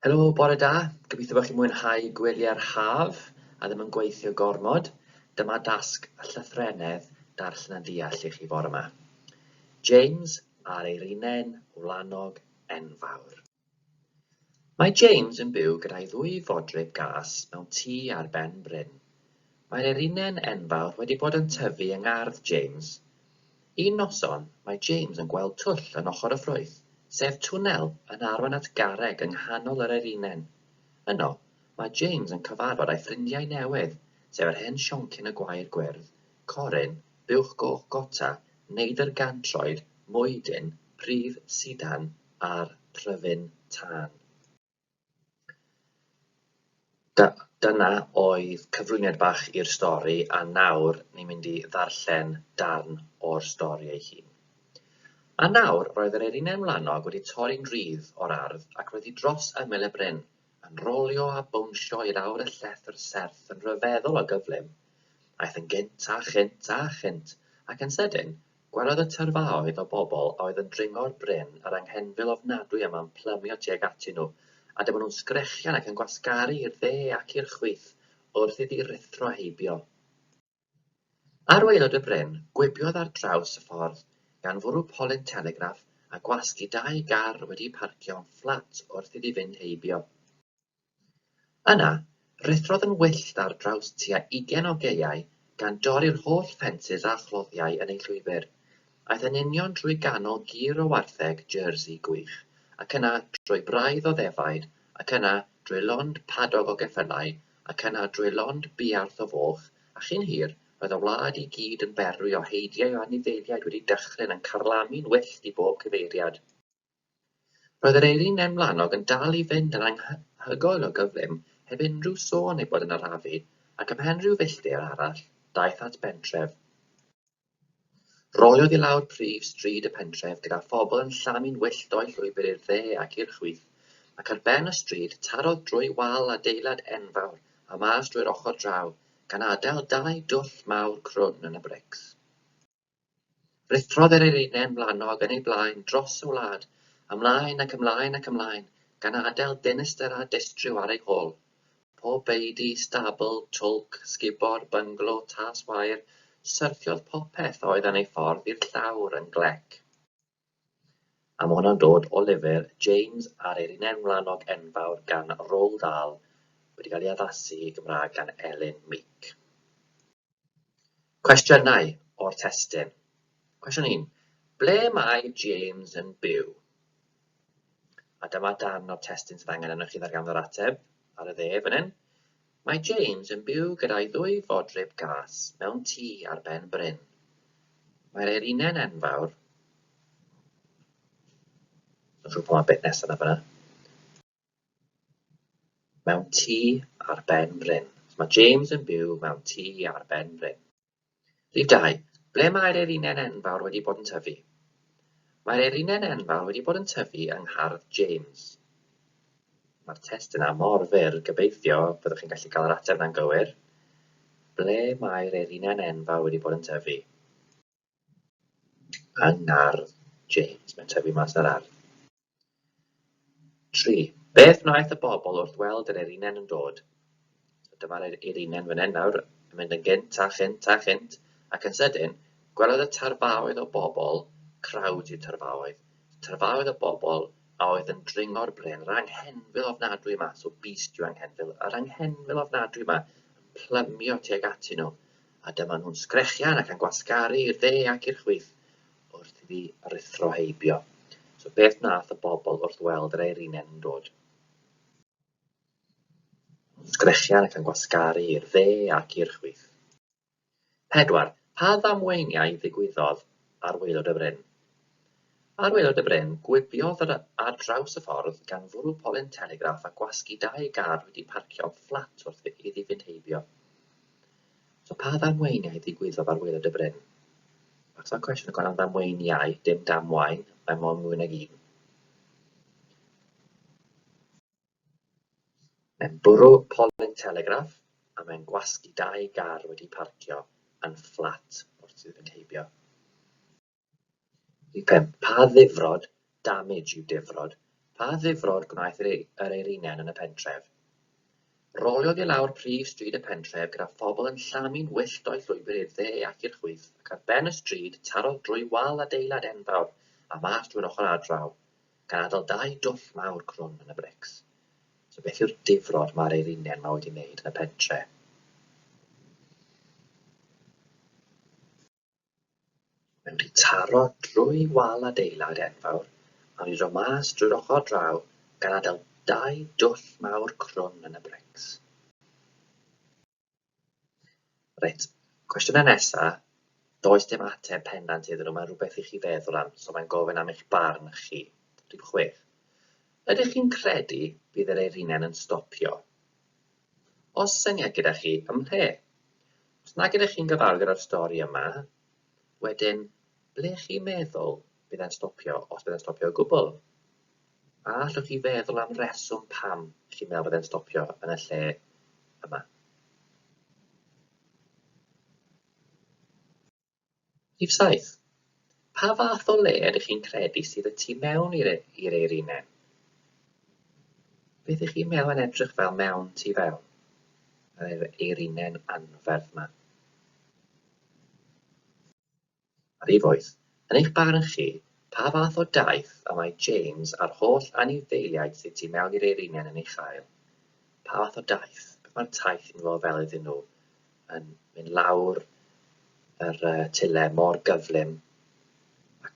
Helo, bore da, gobeithio bod chi'n mwynhau gwelyau'r haf a ddim yn gweithio gormod, dyma dasg llythrennedd darllen a deall i chi fore 'ma. James ar Eirinen, Wlanog enfawr. Mae James yn byw gyda'i ddwy fodryb gas mewn tŷ ar ben bryn. Mae'r erinen enfawr wedi bod yn tyfu yng ngardd James. Un noson, mae James yn gweld twll yn ochr y ffrwyth, sef twnnel yn arwain at garreg yng nghanol yr erinen. Yno, mae James yn cyfarfod â'i ffrindiau newydd, sef yr hen sioncyn y gwair gwyrdd, Corin, buwch goch gota, neidr gantroed, mwydyn, pridd sidan a'r pryfyn tân. Dyna oedd cyflwyniad bach i'r stori a nawr ni'n mynd i ddarllen darn o'r stori ei hun. A nawr roedd yr erinau mlanog wedi torri'n rhydd o'r ardd ac roedd hi dros ymyl y bryn, yn rôlio a bownsio i'r awr y llethr serth yn rhyfeddol o gyflym. Aeth yn gynt a chynt a chynt, ac yn sydyn, Gwelodd y tyrfaoedd o bobl a oedd yn dringo'r bryn yr anghenfil ofnadwy yma'n plymio tuag atyn nhw, a dyma nhw'n sgrechian ac yn gwasgaru i'r dde ac i'r chwith wrth iddi ruthro a heibio. Ar waelod y bryn, gwibiodd ar draws y ffordd, gan fwrw polyn telegraff a gwasgu dau gar wedi'u parcio yn fflat wrth iddi fynd heibio. Yna, rhuthrodd yn wyllt ar draws tua ugain o gaeau, gan dorri'r holl ffensys a chloddiau yn ei llwybr. Aeth yn union drwy ganol gir o wartheg Jersey gwych, ac yna drwy braidd o ddefaid, ac yna drwy lond padog o geffylau, ac yna drwy lond buarth o foch, a chyn hir, roedd y wlad i gyd yn berwi o heidiau o anifeiliaid wedi dychryn yn carlamu'n wyllt i bob cyfeiriad. Roedd yr eirin nen wlanog yn dal i fynd yn anhygoel o gyflym heb unrhyw sôn ei bod yn arafu, ac ymhen rhyw filltir arall, daeth at bentref. Roiodd i lawr prif stryd y pentref gyda phobl yn llamu'n wyllt o'i llwybr i'r dde ac i'r chwith, ac ar ben y stryd tarodd drwy wal adeilad enfawr a mas drwy'r ochr draw, gan adael dau dwll mawr crwn yn y brics. Rhuthrodd yr eirinedd mlanog yn ei blaen dros y wlad, ymlaen ac ymlaen ac ymlaen, gan adael dinistr a distriw ar ei hôl. Pob beudy, stabl, twlc, sgubor, bynglo, tas wair, syrthiodd popeth oedd yn ei ffordd i'r llawr yn glec. A ma' hwnna'n dod o lyfr James a'r Erinau Wlanog Enfawr gan Roald Dahl, wedi cael ei addasu i Gymraeg gan Elin Meek. Cwestiynau o'r testun. Cwestiwn 1. Ble mae James yn byw? A dyma darn o'r testun sydd angen arnoch chi ddarganfod yr ateb ar y dde fan hyn. Mae James yn byw gyda'i ddwy fodryb gas mewn tŷ ar ben bryn. Mae'r Eirinau'n enfawr. Mae'n siŵr pa mor beth nesaf na fyna. Mewn tŷ ar ben bryn. So mae James yn byw mewn tŷ ar ben bryn. Rhif dau, ble mae'r erinen enfawr wedi bod yn tyfu? Mae'r erinen enfawr wedi bod yn tyfu yng nghardd James. Mae'r test yna mor fyr, gobeithio byddwch chi'n gallu cael yr ateb yna'n gywir. Ble mae'r erinen enfawr wedi bod yn tyfu? Yng ngardd James, mae'n tyfu mas ar ardd. Tri. Beth wnaeth y bobl wrth weld yr Erinen yn dod? Dyma'r Erinen fan hyn nawr, yn mynd yn gynt a chynt a chynt, ac yn sydyn, gwelodd y tarfaoedd o bobl, crowd yw tarfaoedd, tarfaoedd o bobl a oedd yn dringo'r bryn, yr anghenfil ofnadwy yma, so beast yw anghenfil, yr anghenfil ofnadwy yma, yn plymio tuag atyn nhw, a dyma nhw'n sgrechian ac yn gwasgaru i'r dde ac i'r chwith. wrth i fi ruthro heibio. So beth nath y bobl wrth weld yr eirinen yn dod? Sgrechian ac yn gwasgaru i'r dde ac i'r chwith. Pedwar, pa ddamweiniau ddigwyddodd ar waelod y bryn? Ar waelod y bryn, gwibiodd yr ar draws y ffordd gan fwrw polyn telegraff a gwasgu dau gar wedi parcio fflat wrth iddi fynd heibio. So pa ddamweiniau ddigwyddodd ar waelod y bryn? Os yna cwestiwn yn gofyn am ddamweiniau, dim damwain, mae mond mwy nag un. Mae'n bwrw polyn telegraff a mae'n gwasgu dau gar wedi parcio yn fflat wrth iddyn nhw heibio. Pa ddifrod, damage, yw difrod? Pa ddifrod gwnaeth yr Eiriniaid yn y pentref? Roliodd i lawr prif stryd y pentref gyda phobl yn llamu'n wyllt o'u llwybr i'r dde ac i'r chwith, ac ar ben y stryd tarodd drwy wal adeilad enfawr a mas drwy'r ochr ardraw, gan adael dau dwll mawr crwn yn y brics. So beth yw'r difrod mae'r Eiriniaid yma wedi wneud yn y pentre? Mae wedi taro drwy wal adeilad enfawr a wedi dod mas drwy'r ochr draw gan adael dau dwll mawr crwn yn y brics. Reit, cwestiynau nesa, does dim ateb pendant iddyn nhw, mae'n rhywbeth i chi feddwl am, so mae'n gofyn am eich barn chi. Rhif chwech. Ydych chi'n credu bydd yr eirinen yn stopio? Oes syniad gyda chi ym mhle? Os nag ydych chi'n gyfarwydd â'r stori yma, wedyn, ble chi'n meddwl bydd e'n stopio, os bydd e'n stopio o gwbl? A allwch chi feddwl am reswm pam chi'n meddwl bydd e'n stopio yn y lle yma? Rhif saith, pa fath o le ydych chi'n credu sydd y tu mewn i'r i'r eirinau? Beth ych chi'n meddwl yn edrych fel mewn tu fewn? Yr eirinau'n anferth yma. A rhif wyth, yn eich barn chi, pa fath o daith y mae James a'r holl anifeiliaid sydd tu mewn i'r eirinau yn ei chael? Pa fath o daith? Beth mae'r taith yn fod fel iddyn nhw? yn mynd lawr yr uh, tyle mor gyflym a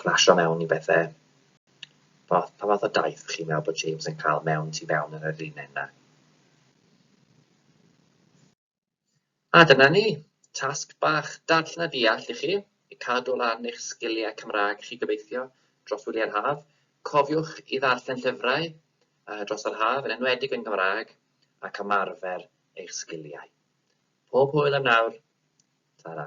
crasio mewn i bethau. Pa, pa fath o daith chi'n meddwl bod James yn cael mewn tu mewn yn yr un yna? A dyna ni, tasg bach darllen a deall i chi, i cadw lan eich sgiliau Cymraeg chi gobeithio dros wyliau'r haf. Cofiwch i ddarllen llyfrau uh, dros yr haf, yn enwedig yn Gymraeg, ac ymarfer eich sgiliau. Pob hwyl am nawr, tara.